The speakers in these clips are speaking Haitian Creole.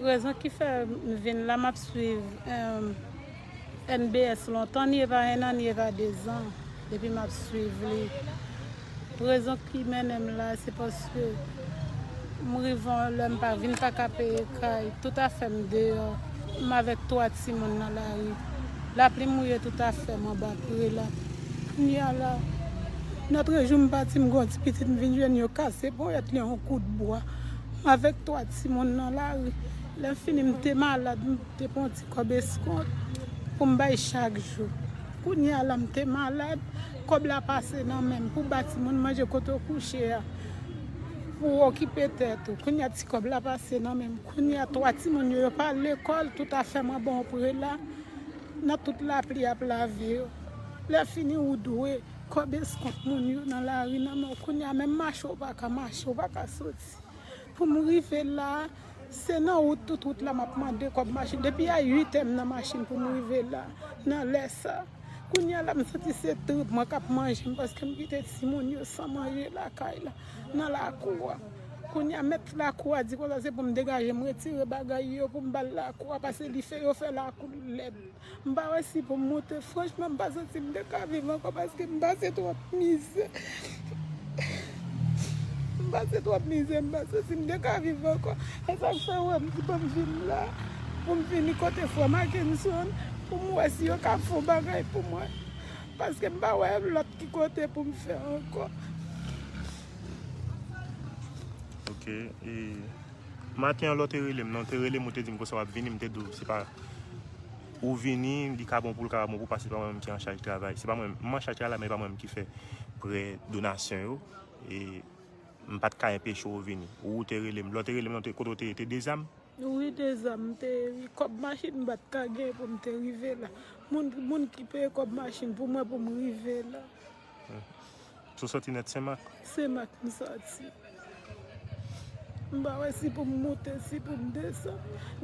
Rezon ki fè m vin la map swiv MBS lontan ni eva 1 an ni eva 2 zan depi map swiv li rezon ki mennen m la se paske m rive yon lè m pa vin pa ka peye kay tout afè m deyò m avèk 3 timoun nan lari lapli mouye tout afè m anba prela kounye a la nòtre jou m pati m gen yon ti pitit m vin jwenn yo kase ponyèt li an yon kout bwa. m avèk 3 timoun nan lari. Lè fini m te malad, m te pran yon ti kòb eskont pou m bay chak jou. Kounye a la m te malad, kòb la pase nan men m pou ba timoun manje kote w kouche a, pou w okipe tèt ou. Kounye a ti kòb la pase nan men m. Kounye a 3 timoun yo, yo pa al lekòl, tout afè m anba yon prela, nan tout lapli ap lave yo. Lè fini ou dwe. Kob eskont moun yo nan lari nan men w kounye a menm mache w pa ka mache w pa ka soti pou m rive la se nan wout tout wout la m ap mande kob machin depi a 8 è m nan machin pou m rive la nan lè sa kounye a la m santi se trip mwen k ap manje m paske m kite timoun yo san manje lakay la nan lakou a kounye a mèt lakou a di konsa se pou m degaje m retire bagay yo pou m ba l lakou a pase li fè yo fè lakou l lèd. M pa wè si pou m moute franchman m pa santi m te ka viv ankò paske m pase twòp mizè m pase twòp mizè m pa santi m te ka viv ankò e sak fè wè m di pou m vin la pou m vini kote frè Makenson pou m wè si yo ka fon bagay pou mwen paske m pa wè lòt ki kote pou m fè ankò. Maten an lè w te rele m nan, ou te rele m ou te di m konsa w ap vini, m te di w se pa ou vini li ka bon pou l ka pa bon pou w paske se pa mwen menm ki an chaj travay. Se pa mwen, m an chaj travay la men se pa mwen menm ki fè prè donasyon yo e m pa t ka enpeche w vini. Ou ou te rele m, lè w te rele m nan kote w te ye te Dezam? Wi Dezam m te ye wi, kòb machin m pa t ka genyen pou m te rive la. Moun ki peye kòb machin pou mwen pou m rive la. Ou soti nèt senmak? Senmak m soti. M pa wè si pou m moute, si pou m desann.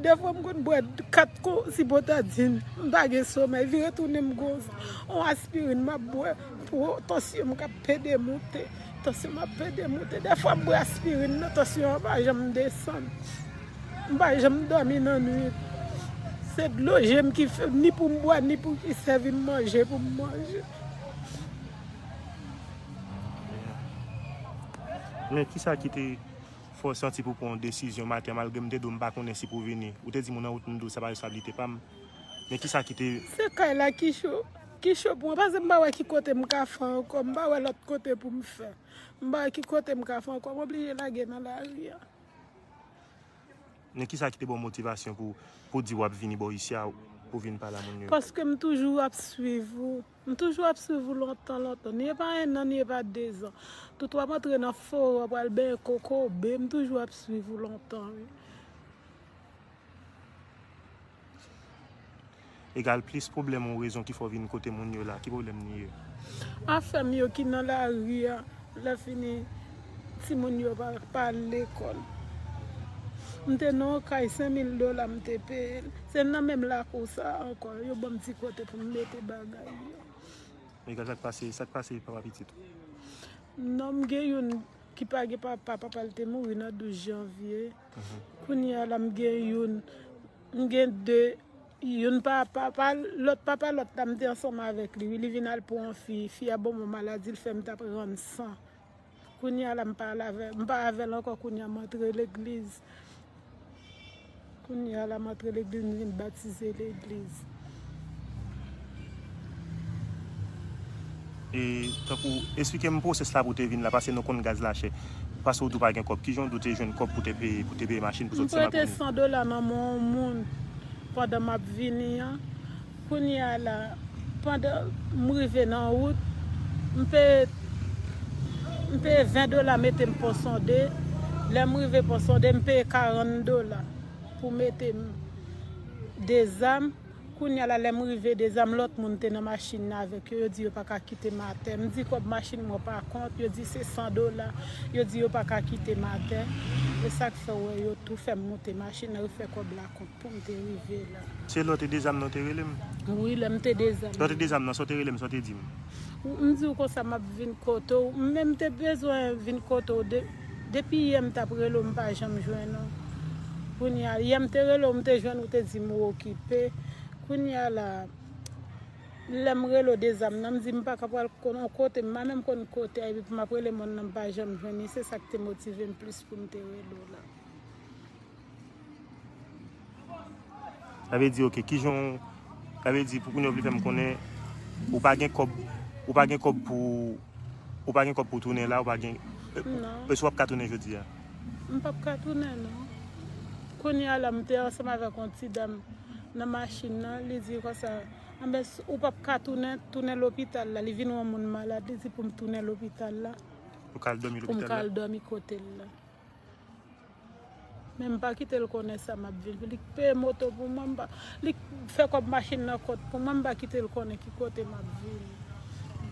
Defwa m konn bwè 4 kou sibotadin. M pa gen somèy. Vire tounen m gon on aspirin m ap bwè pou tansyon m k ap pede moute. Tansyon m ap pede moute. Defwa m bwè aspirin nan tansyon an pa janm desann. M pa janm dòmi nan nwit. Se dlo je m ki fè ni pou m bwè ni pou ki sèvi m manje pou m manje. Men kisa ki te fè w santi pou w pran yon desizyon maten an malgre m te di w m pa konnen si pou w vini? Ou te di moun nan wout m di w sa pa responsablite pa m. Men kisa ki te. Se kay la ki cho. Ki cho pou mwen paske m pa wè ki kote m ka fè ankò. M pa wè lòt kote pou m fè. M pa wè ki kote m ka fè ankò. M oblije lage nan lari a. Men kisa ki te baw motivasyon pou pou di wap vini bò isi a pou vin pale a moun yo. Paske m toujou ap swiv ou. M toujou ap swiv ou lontan lontan. Ni e pa 1 an ni e pa 2 zan. Tout wap antre nan fore wap al benyen kokobe. M toujou ap swiv ou lontan wi. Egal plis pwoblèm ou rezon ki fè w vin kote moun yo la. Ki pwoblèm li ye? Afè m yo ki nan lari a. Lèfini, timoun yo pa al lekòl. M te nan yon kay senmil dola m te peye l. Se nan menm lakou sa a ankò. Yo ban m ti kote pou m mete bagay m yo. Egal sa k pase? Sa k pase papa pitit ou? Non, m gen youn ki pa gen papa. Papa l te mouri nan 12 janvye. Kounyea la m gen youn m gen 2 youn pa papa lòt papa lòt la m te ansanm avèk li wi li vin al pou yon fi fi a banm yon maladi l fèm tap rann san kounyea la m pa al avèl m pa avèl ankò kounyea m antre legliz kounyea la m antre legliz m vin batize legliz. E tankou esplike m pwosès la pou w te vin la pase nou konn gaz la chè pase w di w pa gen kòb kijan w di w te jwenn kòb pou w te peye pou w te peye machin pou w sot Senmakounnen. M prete 100 dola nan men yon moun pandan m ap vini an kounye a la pandan m rive nan wout m peye m peye 20 dola mete m ponsonde lè m rive ponsonde m peye 40 dola pou mete m dezam kounya la lèm rive dezam lòt moun te nan machin nan avèk yo yo di yo paka kitem atè m di kòb machin mwen pa kont yo di se 100 dola yo di yo paka kitem atè e sak fè ou wè yo tou fèm moute machin nan yo fè kòb la kont poum te rive la. Se lò te dezam nan ou te relem? Wi lèm te dezam nan. Lò te dezam nan sa ou te relem sa ou te dim? M diw konsa map vin kote w menm te bezwen vin kote w de. Depi yè m tap rele w m pa janm jwenn ou Kounya yè m te rele w m te jwenn ou te di m ou okipe Kounya la Lè m rele w dezam nan m di m pa ka pral konn on kote m pa menm konn kote a epi pou m ap rele moun nan m pa janm jwenn li se sa k te motive m plis pou m te rele w la. Sa vle di ok, kijan w, sa vle di pou kounye w vle fè m konnen ou pa gen kòb, ou pa gen kòb pou, ou pa gen kòb pou tounen la, ou pa gen, esou w ap ka tounen jodi a? M pap ka tounen non. Kounye a la m te ansanm avèk yon ti dam nan machin nan, li di konsa, anben ou pap ka tounen, tounen lopital la, li vin wè yon moun malad, li di pou m tounen lopital la, pou m ka al dòmi kote l la. Men m pa kite l konnen sa m ap viv. Li peye moto pou mwen, m pa, li fè kòb machin nan kont pou mwen, m pa kite l konnen ki kote m ap viv.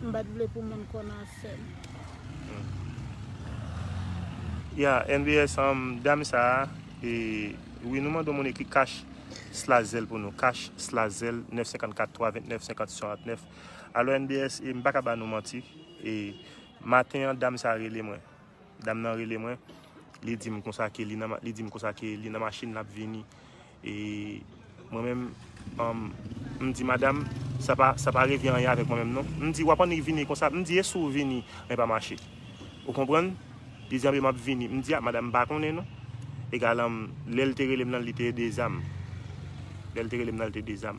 M pa t vle pou moun konn afè m. Ya nbs um dam sa a e wi nou mande w moun ekri cash slash zelle pou nou cash slash zelle 954 329 56 69 alò nbs e m pa ka ba nou manti e maten an dam sa a rele mwen Dam nan rele mwen, li di m konsa ke li nan li di m konsa ke li nan machin lap vini e mwen menm m di madam sa pa sa pa regle anyen avèk mwen menm non m di wap annik vini konsa m di e si w vini mwen pa mache ou konprann li di anben map vini m di a madam m pa konnen non egalan lè l te rele m nan li te dezam lè l te rele m nan li te dezam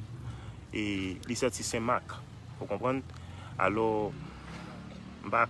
e li sòti senmak ou konprann alò m pa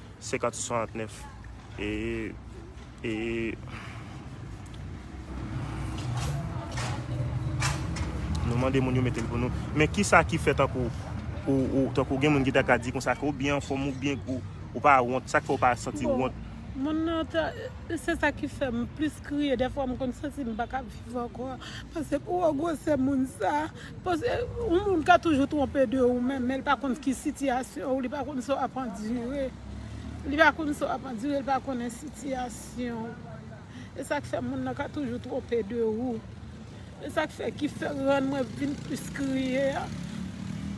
50 sou 69 e nou mande moun yo mete l pou nou men ki sa ki fè tankou tankou gen moun ki ta ka di konsa ke ou byen anfòm ou byen gou ou pa wont sa k fè ou pa santi wont moun nan ta se sa ki fè m plis kriye dèfwa m konn santi m pa ka viv ankò paske pou wè gwosè moun sa. Paske yon moun ka toujou twonpe de ou menm, men li pa konn ki sitiyasyon ou, li pa konn sa w ap andire, li pa konn sa w ap andire, li pa konnen sitiyasyon w. E sa k fè moun nan ka toujou twonpe de ou. E sa k fè ki fè rann mwen vin plis kriye a.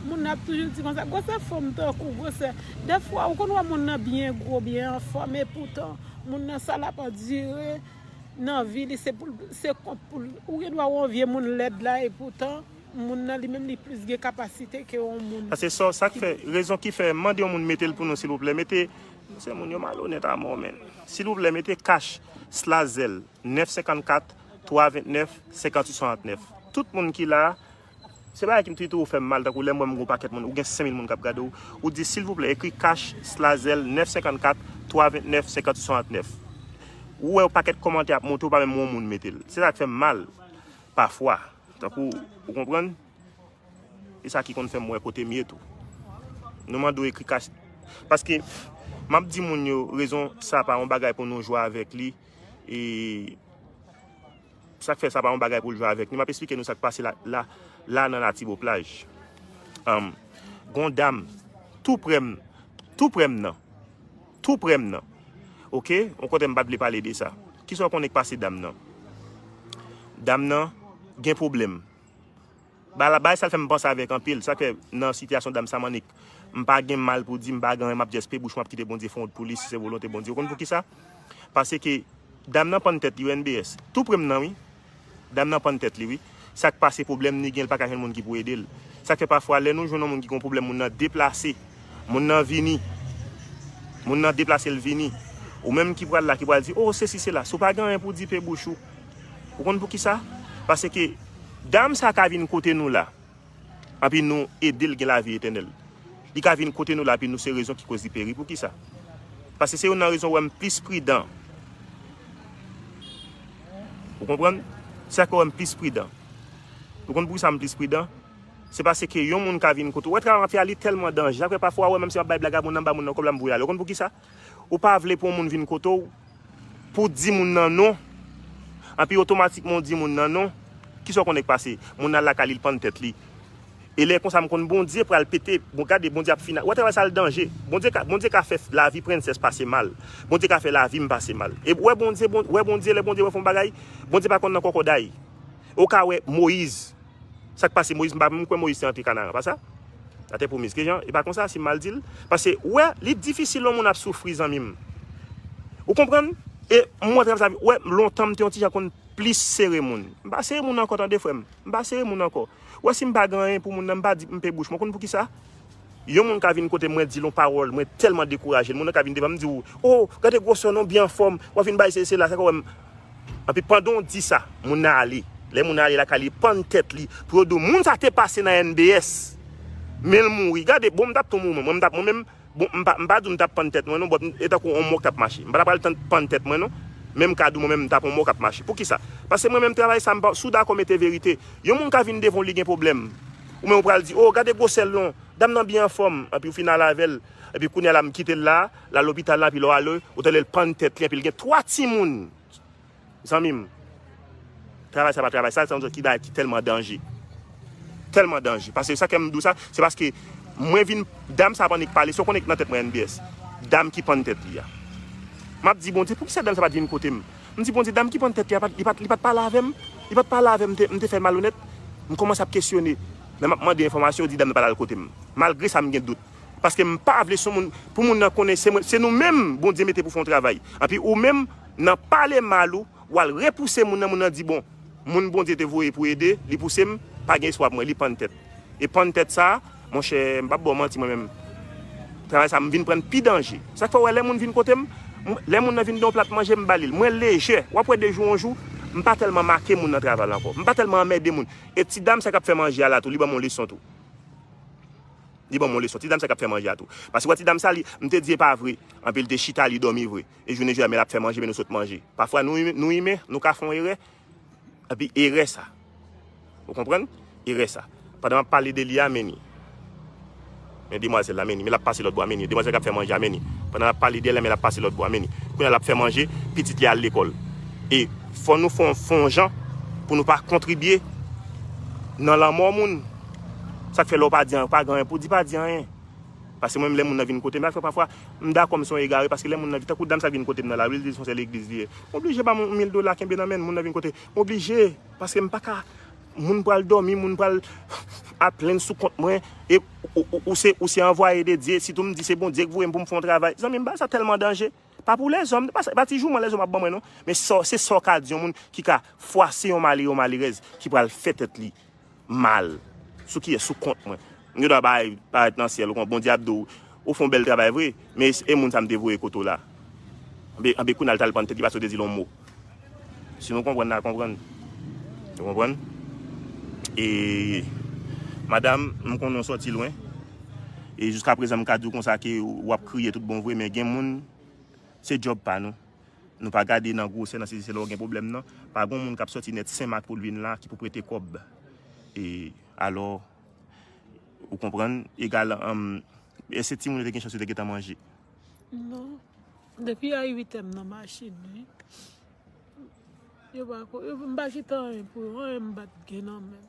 Moun nan ap toujou di konsa, gwosè fanm tankou gwosè. Dèfwa ou konn wè moun nan byen gwo, byen anfòm, epoutan moun nan sa l ap andire. nan vi li se poul se kont poul ou gen dwa wè yon vye moun lèd la e poutan moun nan li menm li plis gen kapasite ke yon moun Pase sò sak fè rezon ki fè mande yon moun metel pou nou silvouplè mete se moun yo malonèt amò menn silvouplè mete cash slazèl 9 54 3 29 58 69 tout moun ki la Se bagay ki pito fèm mal tankou lèm wèm gon pakèt moun ou gen 5000 moun kap gadew ou di silvouplè ekri cash slazel 9 54 3 29 50 69 ou wè yon pakèt kòmantè ap monte ou pa menm wè yon moun metel se sak fèm mal pafwa tankou ou konprann e sa ki konn fèm wè kotem ye tou nou mande w ekri cash paske map di moun yo rezon sa pa yon bagay pou nou jwe avèk li e. Sa k fè sa pa yon bagay pou l jwe avèk nou. M ap esplike nou sa k pase la la nan Latiboplaj. Anm, Gen yon dam tou prè m Tou prè m nan Tou prè m nan Oke, yon kote m pa t vle pale de sa. Ki sa w konnen k pase dam nan? Dam nan gen pwoblèm. Bagay sa l fè m panse avèk anpil, sa k fè nan sitiyasyon dam sa m annik m pa gen mal pou di, m pa gen anyen m ap just pe bouch m ap kite Bondye fè yon wout pou li si se volonte Bondye. Ou konn poukisa? Paske dam nan pann tèt li wi NBS. Tou pre m nan wi. Dam nan pann tèt li wi. Sa k pase pwoblèm li gen li pa ka jwenn moun ki pou ede l. Sa k fè pafwa lè nou jwenn yon moun ki gen yon pwoblèm moun nan deplase, moun nan vini, moun nan deplase l vini. Ou menm ki pral la ki pral di o sesi sela, si w pa gen anyen pou di pe bouch ou. Ou konn poukisa? Paske dam sa ka vin kote nou la, anpi nou ede l gen lavi etènèl. Li ka vin kote nou la anpi nou se rezon ki koz li peri. Poukisa? Paske se youn nan rezon ou wè m plis pridan. Ou konprann? Se sa k fè ou wè m plis pridan. Ou konn poukisa m plis pridan? Se paske yon moun ka vin kote ou. Ou wè travay m ap fè a, li tèlman danje. Sa k fè pafwa ou wè menm si m ap bay blag a moun nan, m ba moun nan kòb la, m voye l ale. Ou konn poukisa? Ou pa vle pou yon moun vin kote w, pou w di moun nan non, anpi otomatikman w di moun nan non, ki sa w konnen k pase? Moun nan al lakay li, li pann tèt li. E lè konsa m konn Bondye pral pete, bon gade Bondye ap fini, wè travay sa l danje. Bondye ka, Bondye ka fè lavi Princess pase mal. Bondye ka fè lavi m pase mal. E wè Bondye, wè Bondye, lè Bondye wè fè yon bagay, Bondye pa konn nan kòkòday. Ou ka wè Moïse. Sak pase Moïse m pa menm kwè Moïse te antre Canaan pa sa? La terre promise kijan e pa konsa si m mal dil pase ou wè li difisil yon moun ap soufri zanmi m ou konprann e m wè travèse lavi wè lontan m te yon ti jan konn plis sere moun m pa sere moun ankò tande frè m m pa sere moun ankò ou wè si m pa gen anyen pou moun nan m pa di m pe bouch mwen ou konn poukisa? Yon moun ka vin kote mwen di l yon pawòl mwen tèlman dekouraje l moun nan ka vin devan m di w o gade gwosè w non byen anfòm w ap vin bay sesi sela sa ka wè m anpi pandan w di sa moun nan ale lè moun nan ale lakay li li pann tèt li pou yo di w moun sa te pase nan NBS men l mouri gade bon m t ap tou mouri mwen m t ap mwen menm bon m pa m pa di w m t ap pann tèt mwen non bòt e tankou yon mò k t ap mache m pa ta pral tann pann tèt mwen non men m ka di w mwen menm m t ap yon mò k ap mache poukisa paske mwen menm travay sa m pa sou dakò mete verite yon moun ka vin devan w li gen pwoblèm Ou menm ou pral di, oh gade gwosè l non, dam nan byen anfòm, epi ou fin al avè l, epi kounye a la m kite l la, l al lopital la epi lè w ale ou tande l pann tèt li epi l gen 3 timoun! Zanmi m, travay sa pa travay sal, sa se yon bagay ki tèlman danje, tèlman danje, pase sa k fè m di w sa, se paske mwen vin, dam sa ap annik pale, si w konnen nan tèt mwen NBS, dam ki pann tèt li a. M ap di Bondye, poukisa dam sa pa t vin kote m? M di Bondye, dam ki pann tèt li a, li pa t pale avè m? Li pa t pale avè m, m te fè l malonèt? M kòmanse ap kesyone. Lè m ap mande enfòmasyon, yo di dam nan pa t al kote m. Malgre sa, m gen dout. Paske m pa vle sou moun, pou moun nan konnen se mwen, se nou menm Bondye mete pou fè yon travay. Anpi ou menm, nan pale mal ou, w al repouse moun nan, moun nan di bon. Moun Bondye te voye pou ede, li pouse m, pa gen espwa pou mwen, li pann tèt. E pann tèt sa, monchè, m pap ba w manti mwen menm, travay sa m vin pran pi danje. Sa k fè w wè lè moun vin kote m, lè moun nan vin gen yon plat manje m ba li l, mwen lejè. W ap wè de jou an jou, m pa tèlman make moun nan travay la ankò. M pa tèlman anmède moun. E ti dam sa k ap fè manje a la tou, li ban m yon leson tou. Li ban m yon leson. Ti dam sa k ap fè manje a tou. Paske w wè ti dam sa li, m te di e pa vre, anpi l te chita li dòmi vre. E jounen jodi a men l ap fè manje men nou sot manje. Pafwa nou imen, nou ka fè yon erè. Epi erè sa. Ou konprann? Erè sa. Pandan m ap pale de li a, men ni. Men demwazèl la, men ni. Men l ap pase lòt bò a, men ni. Demwazèl k ap fè manje a, men ni. Pandan l ap pale de l la, men l ap pase lòt bò a, men ni. Kounye a l ap fè manje, pitit li al lekòl. E fò nou fè yon jan pou nou pa kontribye nan lanmò moun. Sa k fè lè w pa di anyen, ou pa gen anyen pou w di, pa di anyen. Paske mwen menm lè moun nan vin kotem, afè pafwa m dakò m se yon egare paske lè moun nan, tankou dam sa k vin kotem nan lari li di son sè legliz li ye, m oblije ba m yon mil dola kenbe nan men l, moun nan vin kote, m oblije paske m paka moun pral dòmi, moun pral ap plenn sou kont mwen e ou se ou se anvwaye de Dye, sitou m di se Bondye k voye m pou m fè yon travay, zanmi m bagay sa tèlman danje, pa pou lèzòm, se pa sa, se pa ti jouman lèzòm ap ban mwen non, men sa w, se sa w ka di yon moun ki ka fwase yon malere, yon malerèz ki pral fè tèt li. mal sou kiyes sou kont mwen m gen dwa bay parèt nan syèl ou kon bondye ap di w ou fon bèl travay vre men es e moun sa m te voye kote w la anbe anbe kounal tal pann tèt li pase w te di l on mo si nou konprann na konprann nou konprann e madam m konnen w sòti lwen e jiska prezan m ka di w konsa ke wap kriye tout bon vre men gen moun se djòb pa nou Nou pa gade nan gwosè nan sezi se la ou gen pwoblèm nan pa gon moun kap sòti nèt senmak poul vin la ki pou prete kòb e alò ou konprann egal humm èske timoun yo te gen chans yo te gentan manje. Non depi a 8 èm nan machin wi yo pa ko yo mpa kite anyen pou yo anyen mpat gen nan menm.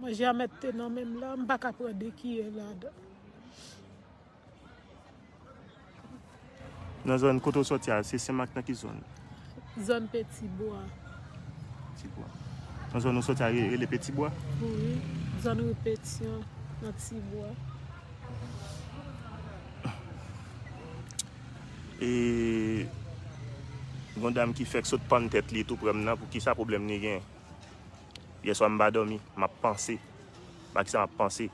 Manje a mèt te nan menm la, m pa ka pran 2 kiyè ladan. Nan zòn kote ou sòti a, se Senmak nan ki zòn? Zòn Petibwa. Petibwa. Nan zòn ou sòti a rele Petibwa? Wi, zòn ri Petyon nan Tibwa. E yon dam ki fèk sot pann tèt li tou prè m nan, pou kisa pwoblèm li gen? Yèswa m pa dòmi, m ap panse. Ba kisa m ap panse?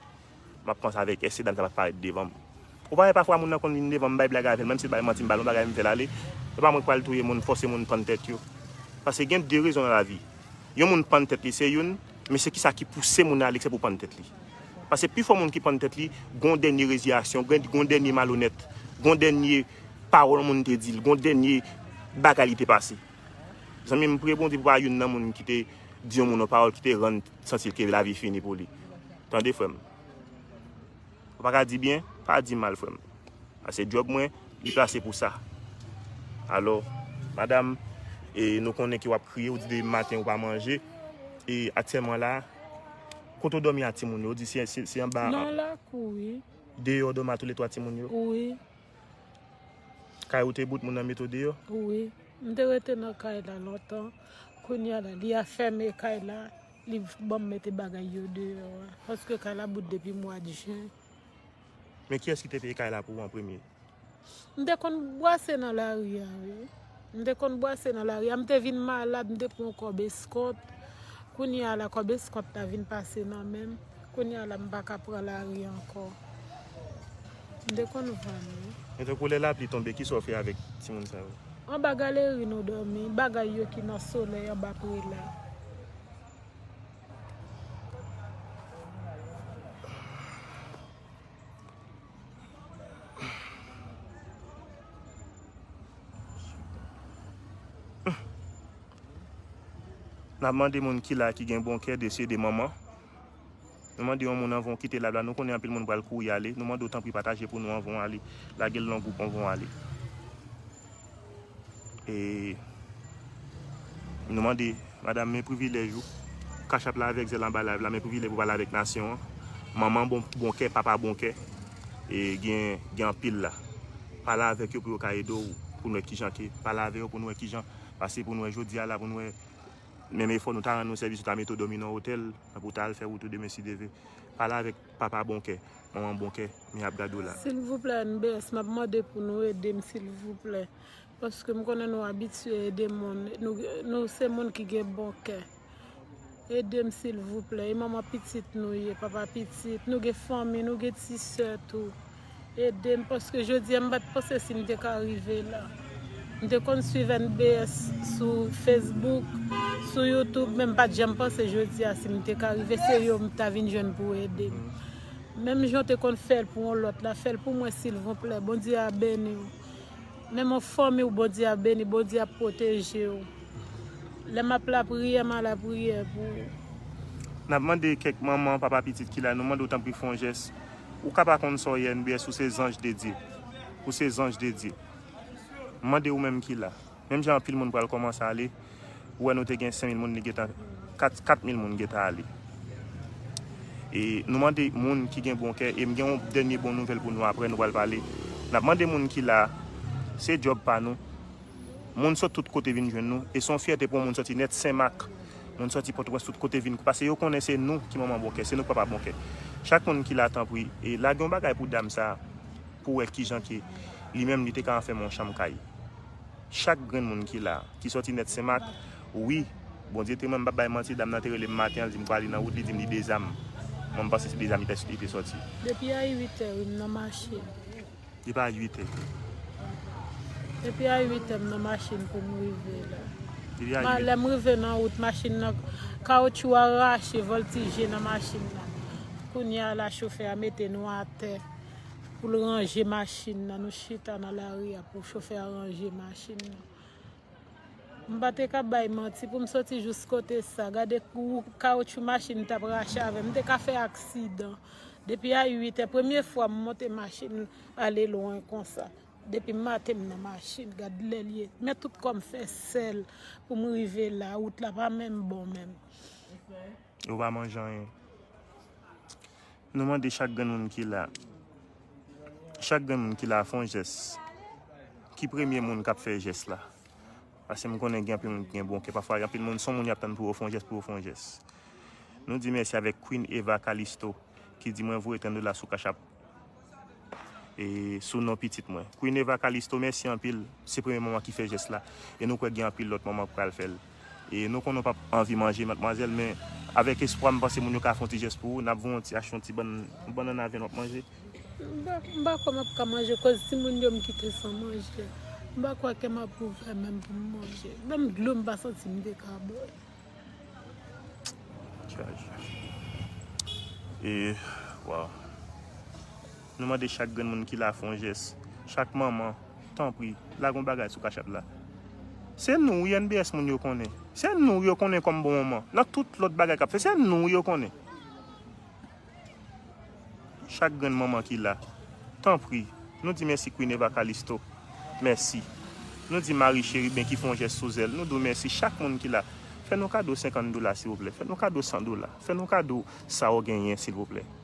M ap panse avèk èske dam sa pa parèt devan m. Ou pa wè pafwa moun nan konn vin devan m bay blag avè l, menm si l bay manti m ba l yon bagay m fè l ale. Se pa mwen k pral touye moun, fòse moun pann tèt yo. Paske gen de rezon nan lavi. Yon moun pann tèt li se youn, men se kisa ki pouse moun nan ale eksè pou pann tèt li. Pase pifò moun ki pann tèt li, gon dènye reziyasyon, gon dènye malonèt, gon dènye pawòl yon moun te di l, gon dènye bagay li te pase. Zanmi m priye Bondye pou pa youn nan moun ki te di yon moun yon pawòl ki te rann santi l ke lavi fini pou li. Tande frè m. Ou pa ka di byen, pa di mal frè m. Ase djòb mwen, li plase pou sa. Alò, madam, e nou konnen ke w ap kriye, ou di de maten ou pa manje, e aktyèlman la, kote ou dòmi a timoun yo? Ou di se anba. Nan lakou wi. Deyò ou dòmi a tou le twa timoun yo? Wi. Kay ou te bout moun nan mete w deyò? Wi, m te rete nan kay la lontan, kounya la li afème kay la, li ban m mete bagay yo deyò a, paske kay la bout depi mwa jen. Men kiyès ki te peye kay la pou ou an premye? M te konn bwase nan lari a wi. M te konn bwase nan lari a. M te vin malad, m te pran yon kòb eskòt. Kounye a la, kòb eskòt la vin pase nan men m. Kounye a la, m pa ka pran lari ankò. M te konn vann wi. Men tankou lè lapli tonbe, ki sa w fè avèk timoun sa yo? Anba galeri nou dòmi. Bagay yo ki nan solèy anba prela. Nap mande moun ki la ki gen bon kè de sede manman. Nou mande yon moun anvan ou kite live la. Nou konnen anpil moun pral kouri ale. Nou mande w tanpri pataje pou nou anvan ou ale. Lage l nan gwoup anvan ou ale. E nou mande madam men privilèj ou. Cash app la avèk zèl anba live la men privilèj pou pale avèk nasyon an. Manman bon kè, papa bon kè. E gen anpil la. Pale avèk yo pou yo ka ede ou. Pou nou wè kijan ke. Pale avèk yo pou nou wè kijan. Pase pou nou wè jodi a la pou nou wè. Menm efò nou ta rann nou sèvis ou ta mete ou dòmi nan otèl. Pou ou ta al fè wout ou demen si Dieu veut. Pale avèk. Papa bon kè, manman bon kè, men yap gade w la. Silvouplè mbs map mande pou nou edem silvouplè paske m konnen nou abitye ede moun nou se moun ki gen bon kè edem silvouplè e manman pitit nou ye papa pitit nou gen fanmi nou gen ti sè tou Edem paske jodi an m pat panse sim te ka rive la. M te konn swiv NBS sou Facebook, sou YouTube men m pat janm panse jodi a sim te ka rive se yo m ta vin jwenn pou edem. Menm jan w te konn fèl pou yon lòt la fèl pou mwen silvouplè Bondye a beniw. Menm an fanmi w Bondye ap beni Bondye ap pwoteje w. Lè map lapriyè m a lapriyè pou ou. Nap mande kèk manman, papa pitit ki la nou mande w tanpri fè yon jès Ou ka pa konn sa w ye nbs ou se zanj de Dye. Ou se zanj de Dye. M mande ou menm ki la. Menm jan anpil moun pral kòmanse ale. Ou wè nou te gen 5000 moun li gentan 4000 moun gentan ale. E nou mande moun ki gen bon kè e m gen yon dènye bon nouvèl pou nou aprè nou pral pale. N ap mande moun ki la se djòb pa nou. Moun sot tout kote vin jwenn nou e se yon fyète pou yon moun soti nèt Senmak, moun soti Pòtoprens tout kote vin pase yo konnen se nou ki manman bon kè, se nou ki papa bon kè. Chak moun ki la tanpri e lage yon bagay pou dam sa pou wè kijan ke li menm li te ka anfème yon chanm kay. Chak grenn moun ki la ki soti nèt Senmak wi Bondye temwen m pap bay manti dam nan te rele m maten an li di m prale nan wout li di m li dezam mwen m panse se dezam li te soti. Depi a 8 è wi m nan mache. Li pa 8 è. Depi a 8 è m nan machin pou m rive la. Lè m rive nan wout machin nan kawoutchou a rache vòltije nan machin nan. Kounye a la chofè a mete nou atè pou l ranje machin nan. Nou chita nan lari a pou chofè a ranje machin nan. M pa te ka bay manti pou m soti jous kote sa. Gade kawoutchou machin m t ap rache avè m. M te ka fè aksidan. Depi a 8 è, premye fwa m monte machin ale lwen konsa. Depi maten m nan machin. Gade lè l ye. Men tout kò m fè sèl pou m rive la. Wout la pa menm bon menm. Ou pa manje anyen. Nou mande chak grenn moun ki la, chak grenn moun ki la fon jès. Ki premye moun kap fè jès la? Pase m konnen gen anpil moun ki gen bon kè. Pafwa gen anpil moun son moun yap tann pou yo fon jès pou yo fon jès. Nou di mèsi avèk Queen Eva Calisto ki di mwen voye 30 dola sou cash app e sou non pitit mwen. Queen Eva Calisto mèsi anpil. Se premye manman ki fè jès la e nou kwè gen anpil lòt manman k pral fèl. E nou konnen w pap anvi manje matmwazèl men avèk espwa m panse moun yo ka fè yon ti jès pou ou, nap voye yon ti achte yon ti bann yon bannann avèn wap manje. M pa kwè map ka manje koz timoun yo m kite san manje. M pa kwè kèm ap ouvè menm pou m manje. Menm dlo m pa santi m te ka bwè. Tchaj. E waww. Nou mande chak grenn moun ki la fon jès, chak manman, tanpri, lage yon bagay sou cash app la. Se nou wi NBS moun yo konnen. Se nou wi yo konnen kòm bon manman. Nan tout lòt bagay k ap fè, se nou wi yo konnen. Chak grenn manman ki la, tanpri, nou di mèsi Queen Eva Calisto, mèsi. Nou di Marie Chérubin ki fon jès sou zèl, nou di w mèsi. Chak moun ki la, fè nou kado 50 dola silvouplè, fè nou kado 100 dola, fè nou kado sa w genyen silvouplè.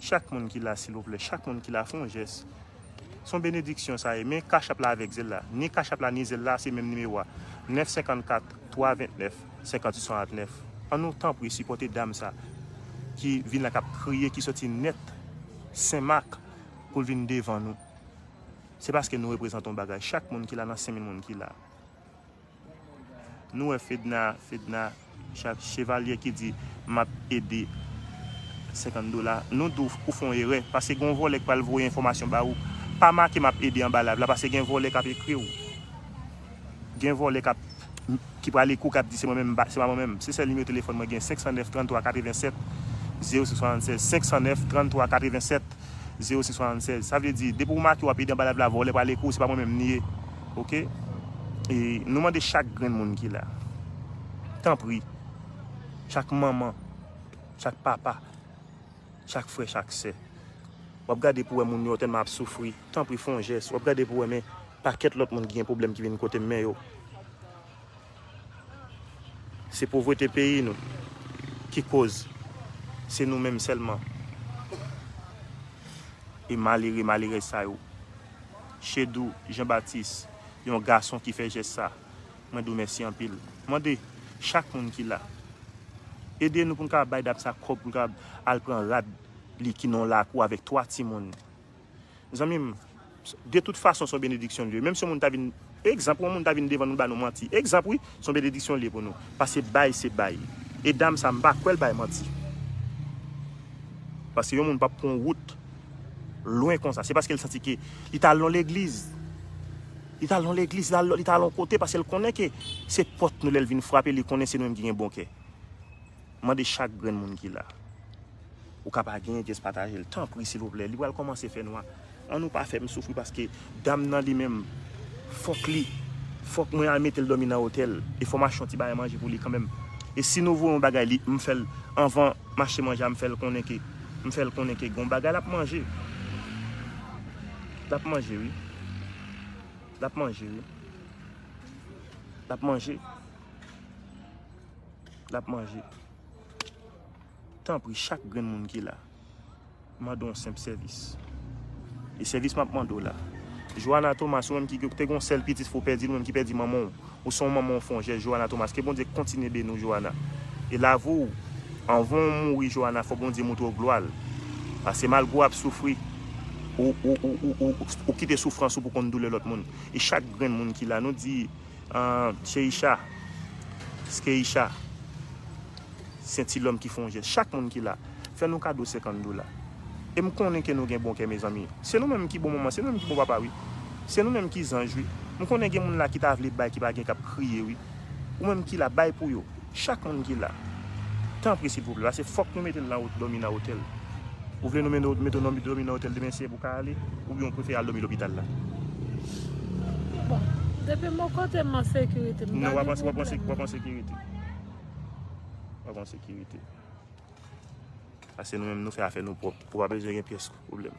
Chak moun ki la silvouplè chak moun ki la fon jès son benediksyon sa ye men cash app la avèk zelle la ni cash app la ni zelle la se menm nimewo a 9 54 3 29 58 69 an nou tanpri sipòte dam sa ki vin la kap kriye ki sòti nèt senmak poul vin devan nou se paske nou reprezante yon bagay chak moun ki la nan 5000 moun ki la. Nou wè fedna fedna chat chevalyè ki di map ede 50 dola nou di w ou fè yon erè pase gen yon vòlè ki pral voye enfòmasyon ba ou pa make map ede anba live la pase gen vòlè kap ekri w gen vòlè kap ki pral ekri w kap di se mwen menm se pa mwen menm se sèl nimewo telefòn mwen gen 509 33 87 06 76 509 33 87 06 76 sa vle di depi w make wap ede anba live la vòlè pral ekri w se pa mwen menm li ye. Ok e nou mande chak grenn moun ki la tanpri chak manman chak papa chak frè chak sè wap gade pou wè moun yo tèlman ap soufri tanpri fon jès wap gade pou wè men pakèt lòt moun ki gen pwoblèm ki vin kotem men yo. Se povrete peyi nou ki koz se nou menm sèlman e malere malerèz sa yo. Chedou Jean Baptiste yon gason ki fè jès sa mwen di w mèsi anpil. Mande chak moun ki la ede nou pou n ka bay dam sa kòb pou l ka al pran rad li ki nan yon lakou avèk 3 timoun. Zanmi m, de tout fason son benediksyon li ye. Menm si yon moun ta vin, egzanp, yon moun ta vin devan nou ba nou manti. Egzanp wi, son benediksyon li ye pou nou. Pase bay se bay. E dam sa m pa kwè l bay manti. Pase yon moun pap pran yon wout lwen konsa. Se paske l santi ke li ta al nan legliz. Li ta al nan legliz, li ta al yon kote paske l konnen ke se pòt nou lè l vin frape li konnen se nou menm ki gen bon kè. Mande chak grenn moun ki la. Ou ka pa genyen just patajel tanpri silvouplè li pral komanse fè nwa an nou pa fèm soufri paske dam nan li menm fok li fok mwen al metel domi nan otèl e fò mache yon ti bagay manje pou li kanmenm e si nou voye yon bagay li m fèl anvan mache manje a m fèl konnen ke m fèl konnen ke gon bagay lap manje lap manje wi lap manje wi lap manje. Lap manje. Tanpri chak grenn moun ki la, m mande w yon senp sèvis. E sèvis map mande w la. Joana Thomas, ou menm ki te gen yon sèl pitit fò w pèdi l, ou menm ki pèdi manman w, ou se yon manman ou fè yon jès Joana Thomas. Ke Bondye kontinye beni w Joana. E lavi w, anvan w mouri Joana, fò Bondye montre w glwa l. Pase malgre w ap soufri, ou kite soufrans ou pou w konn doulè lòt moun. E chak grenn moun ki la, nou di. Ahh Sheisha, Skeisha, se ti lòm ki fè yon jès. Chak moun ki la, fè nou kado 50 dola. E m konnen ke nou gen bon kè mezanmi. Se nou menm ki bon manman, se nou menm ki bon papa wi. Se nou menm ki zanj wi. M konnen gen moun la ki ta vle bay ki pa gen k ap kriye wi. Ou menm ki la, bay pou yo. Chak moun ki la. Tanpri silvouplè pase fòk nou metel nan domi nan otèl. Ou vle nou menou mete w nan domi nan otèl demen se pou ka ale oubyen ou prefere al domi lopital la. Bon. Depi m bon kote m an sekirite. M pa gen pwoblèm. Non wap an sekirite. Wap an sekirite. Pase nou menm nou fè afè nou pwòp. Ou pa bezwen gen pyès pwoblèm.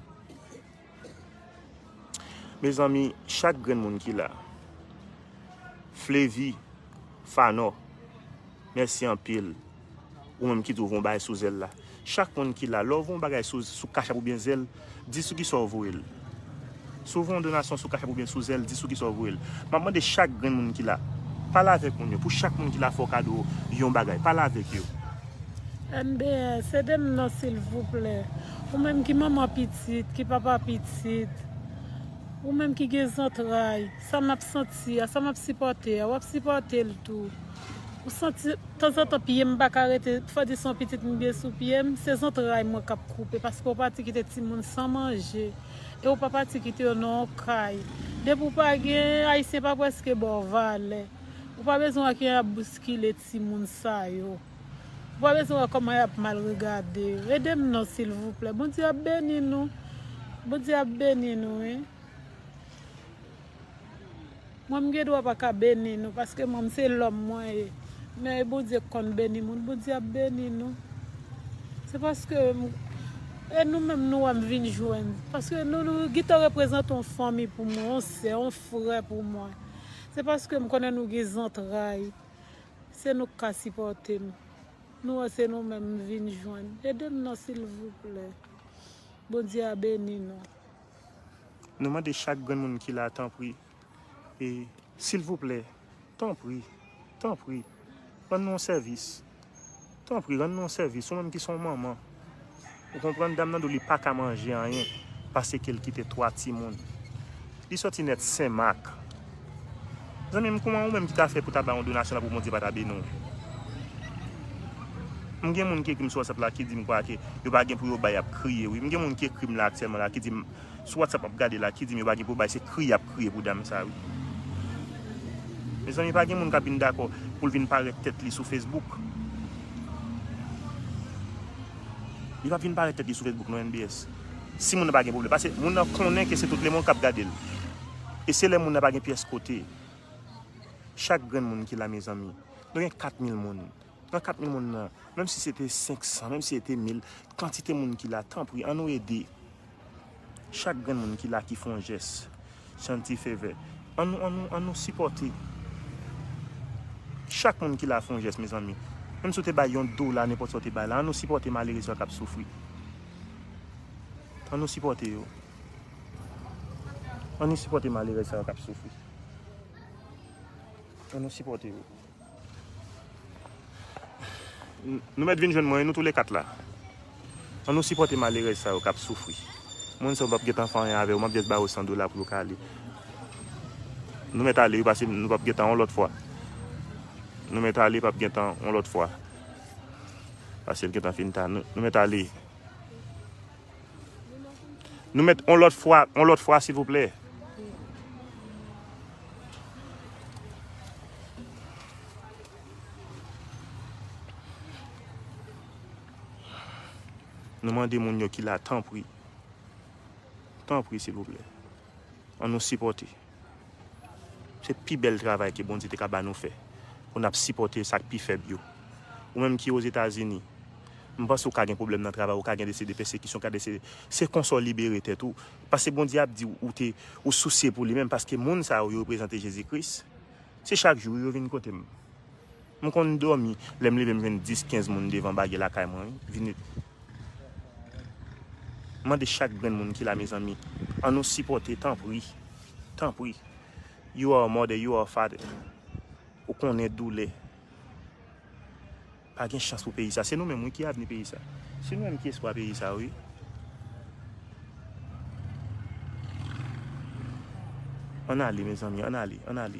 Mezanmi chak grenn moun ki la. Flevi, Fanò, mèsi anpil. Ou menm ki twouve yon bagay sou zèl la. Chak moun ki la, lè w voye yon bagay sou kachap oubyen zèl, di sou kisa w voye l. Si w voye yon donasyon sou kachap oubyen sou zèl, di sou kisa w voye l. M ap mande chak grenn moun ki la, pale avèk moun yo. Pou chak moun ki la fè w kado yon bagay. Pale avèk yo. NB, Se de m non silvouplè. Ou menm ki manman pitit, ki papa pitit, ou menm ki gen zantray, sa m ap santi a, sa m ap sipòte a, w ap sipòte l tou. Ou santi, tanzantan pye m pa ka rete, fòdi se yon pitit m gen sou pye m, se zantray mwen k ap koupe paske ou pati kite timoun san manje. E ou pa pati kite yo nan yon kay. Depi ou pa gen, Ayisyen pa prèske ba w valè. Ou pa bezwen wè kijan y ap bouskile timoun sa yo. Ou pa bezwen wè kòman yap mal regade yo edem non silvouplè bondye ap beni nou bondye ap beni nou wi mwen m gendwa paka beni nou paske mwen m se lòm mwen ye men e bondye k konn beni moun bondye ap beni nou se paske e nou menm nou wèm vin jwenn paske nou nou gintan reprezante yon fanmi pou mwen yon sè yon frè pou mwen se paske m konnen nou gen zantray. Se nou k ka sipòte m. Nou wè se nou menm m vin jwenn. Ede m non silvouplè. Bondye a beni nou. Nou mande chak grenn moun ki la tanpri e silvouplè tanpri tanpri rann nou yon sèvis. Tanpri rann nou sèvis ou menm ki son manman ou konprann dam nan do li paka manje anyen pasekel kite 3 timoun li sòti nèt senmak zanmim kouman ou menm ki ta fè pou ta ba yon donasyon la pou Bondye pata beni w m gen moun ki ekrim sou WhatsApp la ki dim kwake yo pa gen pou yo bay yap kriye wi m gen moun ki ekrim la aktyèlman la ki dim. sou whatsapp map gade la ki dim yo pa gen pou bay se kri yap kriye pou dam sa wi mezanmi pa gen moun kap vin dakò poul vin parèt tèt li sou Facebook li pap vin parèt tèt li sou Facebook non NBS si moun nan pa gen problèm pase moun nan konnen ke se tout lemond kap gadel e se lè moun nan pa gen pyès kote chak grenn moun ki la mezanmi nou gen 4000 moun nan 4000 moun nan menm si se te 500 menm si se te 1000 kantite moun ki la tanpri an nou ede. Chak grenn moun ki la ki fon jès. Shanti Fevè. An nou an nou an nou sipòte. Chak moun ki la fon jès mezanmi. Menm si w te bay yon dola nenpòt sa w te bay la an nou sipòte malere sa k ap soufri. An nou sipòte yo. An nou sipòte malere sa yo k ap soufri. An nou sipòte yo. Nou mèt vin jwenn mwen wi nou tou le 4 la. An nou sipòte malerèz sa yo kap soufri. Moun sa yo pap gentan fè anyen avè yo map just ba yo 100 dola pou yo ka ale. Nou mèt ale wi pase nou pap gentan yon lòt fwa. Nou mèt ale pap gentan yon lòt fwa. Pase l gentan fin ta. Nou mèt ale. Nou met on lot fwa, on lot fwa silvouplè. Nou mande moun yo ki la tanpri. Tanpri silvouplè. An nou sipòte. Se pi bèl travay ke Bondye te ka ba nou fè, pou n ap sipòte sa k pi fèb yo. Ou menm ki Ozetazini, m panse ou ka gen pwoblèm nan travay, ou ka gen de se de pèsekisyon, ka de se de, se konsa w libere tèt ou. Pase Bondye ap di ou te, ou sousye pou li menm, paske moun sa yo, yo reprezante Jezi Kris. Se chak jou wi yo vin kote m. M konn domi lem leve m jwenn 10 15 moun devan bagy lakay mwen wi vini m mande chak grenn moun ki la mezanmi an nou sipote tanpri tanpri you are a mother you are a father ou konnen doulè pa gen chans pou peyi sa se nou menm wi ki avni peyi sa se nou menm ki espwa peyi sa wi. Ann ale mezanmi ann ale ann ale.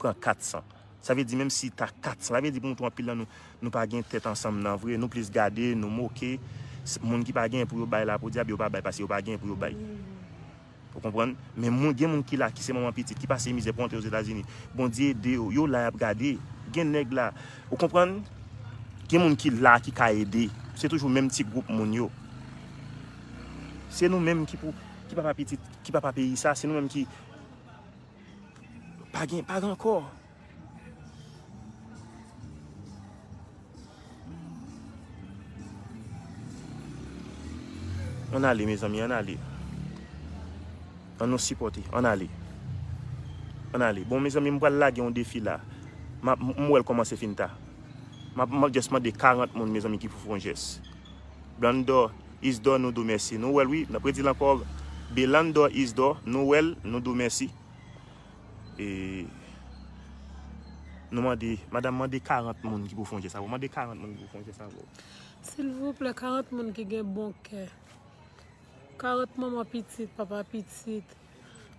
pran 400. Sa vle di menm si ta 400, sa vle di pou nou tou anpil nan nou, nou pa gen tèt ansanm nan vre, nou plis gade, nou moke, moun ki pa genyen pou yo bay la podyab yo pa bay paske yo pa genyen pou yo bay. Ou konprann? Men moun gen moun ki la ki se manman pitit ki pase mizè pou antre Ozetazini, Bondye ede yo, yo la y ap gade. Gen nèg la, ou konprann? Gen moun ki la ki ka ede. Se toujou menm ti gwoup moun yo. Se nou menm ki pou, ki papa pitit, ki papa peyi sa, se nou menm ki. Pa gen pa rankò. Ann ale mezanmi ann ale. Ann nou sipòte ann ale. Ann ale. Bon mezanmi m pral lage yon defi la. M wè l kòmanse fin ta. M ap just mande 40 moun mezanmi ki pou fè yon jès. Blandor Isdor nou dou mèsi nou wèl wi nap redil ankò Belandor Isdor nou wèl nou dou mèsi nou mande madam mande 40 moun ki pou fon jès avèw mande 40 moun ki pou fon jès avèw silvouplè 40 moun ki gen bon kè 40 manman pitit papa pitit.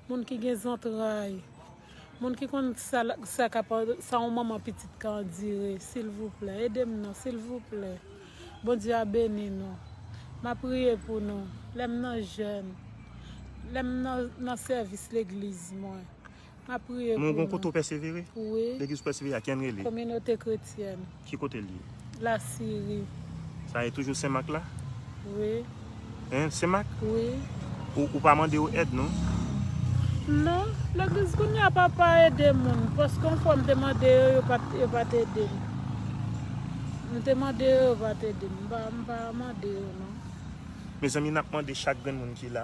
Moun ki gen zantray. Moun ki konn sa kap sa yon manman pitit ka andire silvouplè edem non silvouplè Bondye a beni nou map priye pou nou lèm nan jèn lèm nan sèvis legliz mwen map priye pou nou wi kominote kretyèn. Ki kote li ye? La Syrie. Sa e toujou senmak la? Wi. Hein senmak? Wi. Ou pa mande yo èd non? Non, legliz kounye a pa pa ede moun, paske yon fwa m te mande yo, yo pat yo pat ede m. M te mande yo, yo pat ede m. M pa m pa mande yo non. Mezanmi nap mande chak grenn moun ki la.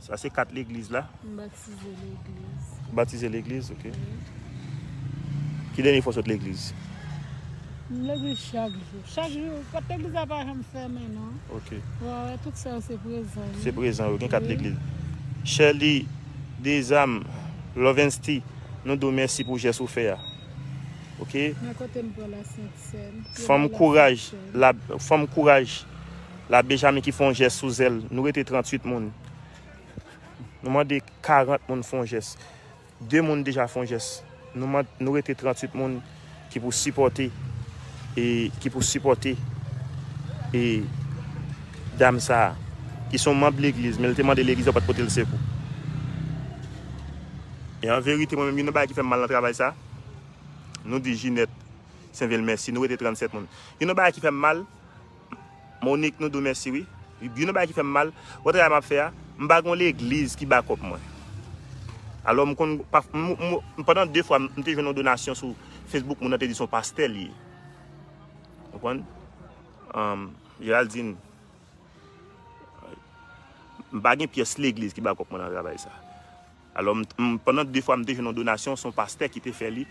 Sa se kat legliz la? M batize legliz. Ou batize legliz, ok. Ki dènye fwa w sot legliz? M legliz chak jou. Chak jou. Pòt legliz la pa janm fèmen non. Ok. Ou a wè tout sa yo se prezan yo. Se prezan yo. Gen kat legliz. Sherly Dezam, Lovensty, nou di w mèsi pou jès ou fè a. Ok. Men kote m pran la sentsèn. Fanm kouraj. Fanm kouraj. La Bejami ki fon jès sou zèl. Nou rete 38 moun. Nou mande 40 moun fon jès. 2 moun deja fon jès. Nou rete 38 moun ki pou sipòte e ki pou sipòte e dam sa a. Ki son manb legliz men li te mande legliz yo pat pote l sekou. E an verite mwen menm youn nan bagay ki fè m mal nan travay sa a. Nou di Jinèt Senvil mèsi. Nou rete 37 moun. Youn nan bagay ki fè m mal. Monique nou do mèsi wi. Youn nan bagay ki fèm mal wè travay map fè a m pa gon legliz ki bakòp mwen alò m konn pandan 2 fwa m te jwenn yon donasyon sou Facebook moun nan te di son pastè li ye ou konprann Géraldine m pa gen pyès legliz ki bakòp mwen nan travay sa. Alò, m, pandan de fwa m te jwenn yon donasyon, se yon pastè ki te fè li,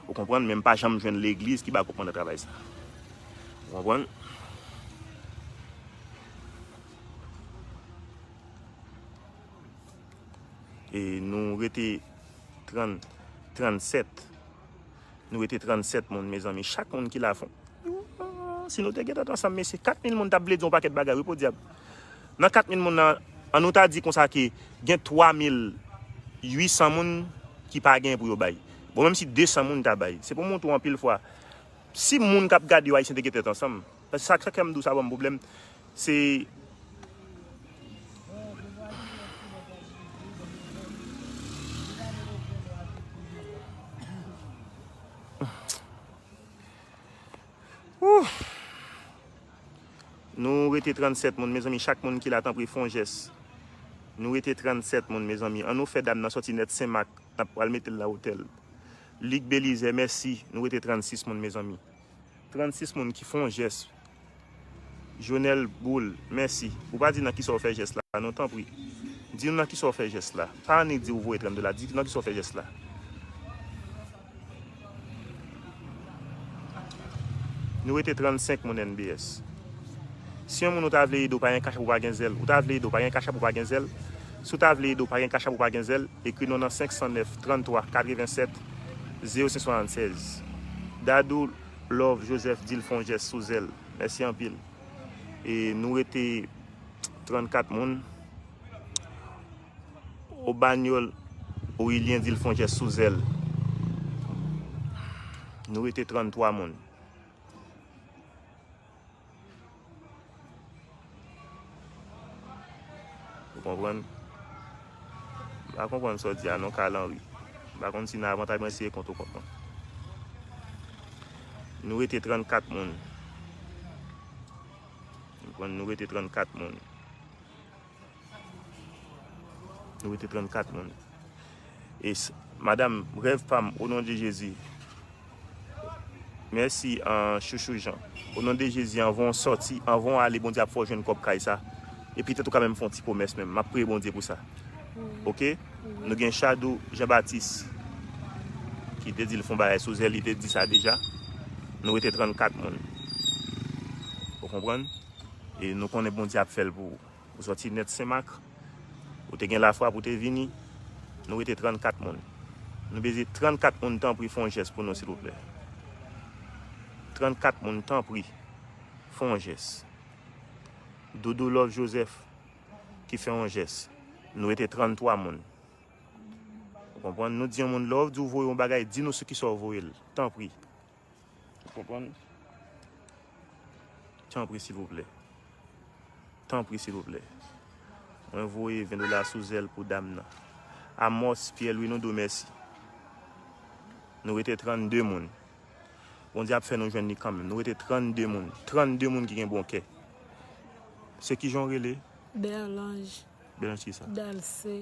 ou konprann, men m pa janm jwenn legliz ki ba gwoup manda travay sa a. Ou konprann? E nou rete 30, 37. Nou rete 37 moun mezanmi chak moun ki la fon si nou te gen tèt ansanm mesye 4000 moun tap vle di yon pakèt bagay wi podyab nan 4000 moun nan an nou ta di konsa ke gen 3800 moun ki pa gen pou yo bay bon menm si 200 moun ta bay se pou montre w anpil fwa si moun kap gade yo ayisyen te gen tèt ansanm. Sa k fè m dou sa ban m pwoblèm se Ooh Nou rete 37 moun mezanmi chak moun ki la tanpri fon jès Nou rete 37 moun mezanmi an nou fè dam nan sòti nèt senmak nap pral mete l nan otèl Luc Belizaire mèsi nou rete 36 moun mezanmi. 36 moun ki fon jès Jonel boul mèsi ou pa di nan kisa ou fè jès la non tanpri di nou nan kisa ou fè jès la pa annik di ou voye 30 dola di nan kisa ou fè jès la. Nou rete 35 moun NBS. Si yon moun ou ta vle ede ou pa gen kachap ou pa gen zèl ou ta vle ede ou pa gen kachap ou pa gen zèl si ou ta vle ede ou pa gen kachap ou pa gen zèl ekri non nan 509 33 87 Zye yo se 76. Dadou love Joseph dil fon jès sou zèl. Mèsi anpil. E nou rete 34 moun. Obanyol Orilien dil fon jès sou zèl. Nou rete 33 moun. Ou konprann? M pa konprann sa w di a non Carl Henry. M pa konn si nan avantay mwen eseye kont ou konprann. Nou rete 34 moun. Nou rete 34 moun. Nou rete 34 moun. E madam, rèv pam, o non de Jezi. Mèsi an chouchou Jean. O non de Jezi, anvan w sòti, anvan w ale, Bondye ap fè w jwenn kòb kay sa. E petèt ou ka menm fè yon ti pwomès menm. M ap priye Bondye pou sa. Ok? Nou gen Chadou Jean Baptiste ki te di l fè yon bagay sou zèl, li te di sa deja. Nou rete 34 moun. Ou konprann? e nou konnen Bondye ap fè l pou ou. Ou sòti nèt Senmak, ou te gen lafwa pou te vini, nou rete 34 moun. Nou bezye 34 moun tanpri fon jès pou nou silvouplè. 34 moun tanpri fon jès. Doudou Love Joseph ki fè yon jès. Nou rete 33 moun. Ou konprann? Nou di yon moun lè w di w voye yon bagay, di nou sou kisa w voye l. Tanpri. Ou konprann? Tanpri silvouplè. Tanpri silvouplè. Mwen voye 20 dola sou zèl pou dam nan. Amos Pierre Louis nou di w mèsi. Nou rete 32 moun. Bondye ap fè nou jwenn li kanmenm. Nou rete 32 moun. 32 moun ki gen bon kè. Se kijan w rele? Berlange. Berlange kisa? Dalcé.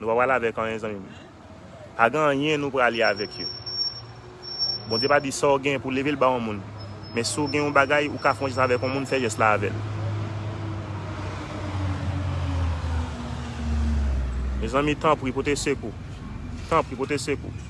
Nou pa prale avek anyen zanmim. Pa gen anyen nou prale avek yo. Bondye pa di saw gen pou level ba yon moun. Men si w gen yon bagay ou ka fè yon jès avek yon moun fè jès la avel. Mezanmi tanpri pote sekou. Tanpri pote sekou.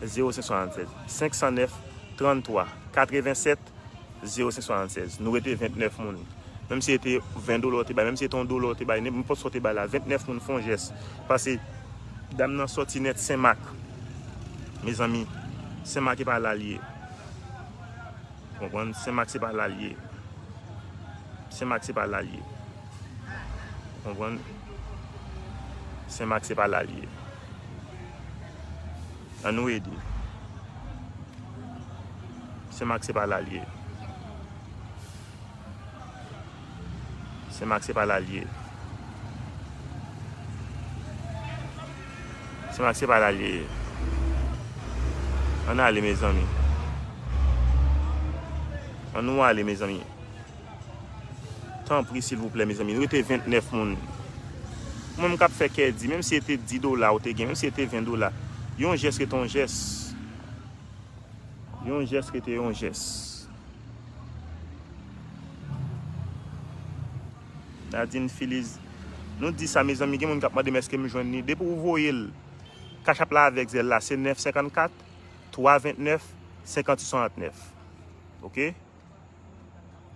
0576 509 33 87 0576 nou rete 29 moun menm si e te 20 dola ou te bay menm si e te 1 dola ou te bay nenpòt sa ou te bay la 29 moun fon jès pase dam nan sòti nèt senmak mezanmi senmak e pa la l ye ou konprann senmak se pa la l ye senmak se pa la l ye ou konprann senmak se pa la l ye. An nou ede. Sen Mak se pa la l ye. Sen Mak se pa la l ye. Sen Mak se pa la l ye. An n ale mezanmi. An nou ale mezanmi. Tanpri silvouplè mezanmi rete 29 moun ou menm kap fè kè di menm si e te 10 dola ou te gen menm si e te 20 dola yon jès rete yon jès yon jès rete yon jès Nadine Philise nou di sa mezanmi gen moun kap mandem eske m jwenn li depi ou voye l cash app la avèk zelle la se 9 54 3 29 58 69 ok.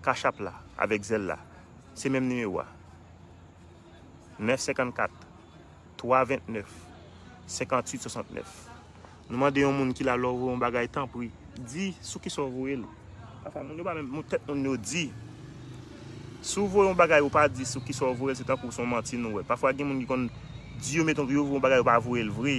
Cash app la avèk Zelle la se menm nimewo a 9 54 3 29 58 69 nou mande yon moun kila lè ou voye yon bagay tanpri di sou kisa ou voye l pafwa moun yo pa menm tèt moun yo di si ou voye yon bagay ou pa di sou kisa ou voye l se tankou se yon manti nou wè pafwa gen moun ki konn di yo meton pou yo voye yon bagay yo pa voye l vre.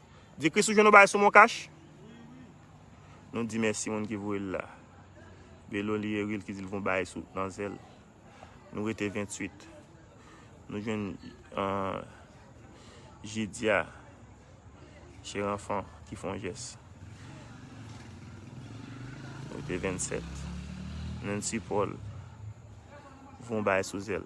Di Kris ou jwenn yon bagay sou moncash? Nou di mèsi moun ki voye l la. Belo li Eril ki di l gon bagay sou nan zèl. Nou rete 28. Nou jwenn Jidya Cheranfan ki fon jès. Nou rete 27. Nancy Paul voye yon bagay sou zèl.